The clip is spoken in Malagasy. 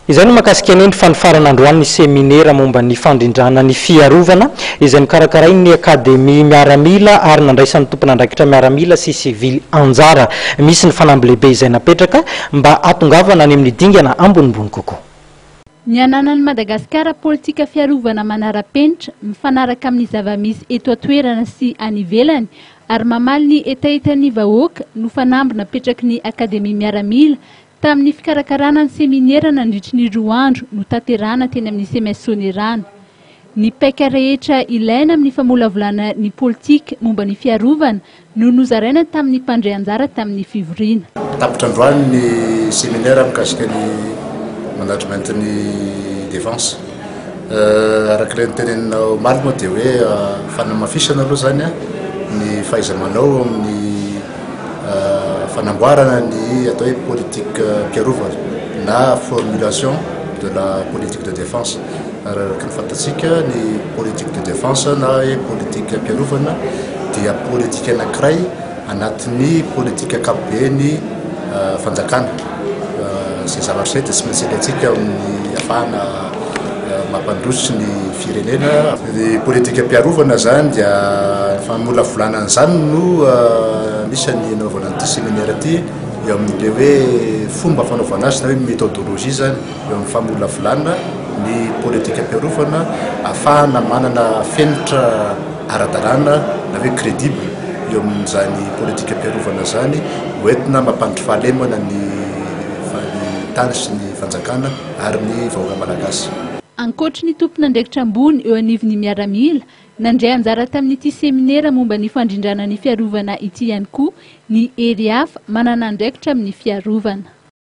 Izay no mahakasika ny fanofarana androany ny seminera momba ny fandrindrana ny fiarovana izay nokarakarain'ny Akademia Miaramila ary nandraisan'ny tompon'andraikitra miaramila sy sivily anjara. Misy ny fanamby lehibe izay napetraka mba hatongavana any amin'ny dingana ambonimbony kokoa. Ny ananan'i Madagasikara politika fiarovana manara-penitra, mifanaraka amin'ny zava-misy eto an-toerana sy any ivelany ary mamaly ny hetahetan'ny vahoaka no fanamby napetraky ny Akademia Miaramila Tamin'ny fikarakarana ny seminera nandritry ny roa andro notanterahana teny amin'ny CMS Soanierana. Ny paika rehetra ilaina amin'ny famolavolana ny politika momba ny fiarovana no nozaraina tamin'ny mpandray anjara tamin'ny fivoriana. Tapitra androany ny seminera mikasika ny management ny defense. Araka ilay noteneninao omaly moa dia hoe fanamafisana aloha izany ny fahaiza-manao amin'ny fanamboarana ny atao hoe politikam-piarovana na formulation de la politique de défense. Araka ny fantatsika ny politique de défense na hoe politikam-piarovana dia politika anankiray Anatin'ny politika ankapoben'ny fanjakana, izay zavatra izay dia tsy maintsy ilaintsika amin'ny hahafahana mampandroso ny firenena. Ny politikam-piarovana izany dia famolavolana an'izany no anisan'ny anaovana an'ity seminaire ity eo amin'ilay hoe fomba fanaovana azy na hoe methodologie izany. Eo amin'ny famolavolana ny politikam-piarovana ahafahana manana fenitra ara-dalàna na hoe crédible eo amin'izany politikam-piarovana izany ho entina mampandry fahalemana ny tany sy ny fanjakana ary ny vahoaka malagasy. Ankoatry ny tompon'andraikitra ambony eo anivon'ny miaramila, nandray anjara tamin'ity seminera momba ny fandrindrana ny fiarovana ity ihany koa ny hery hafa manana andraikitra amin'ny fiarovana.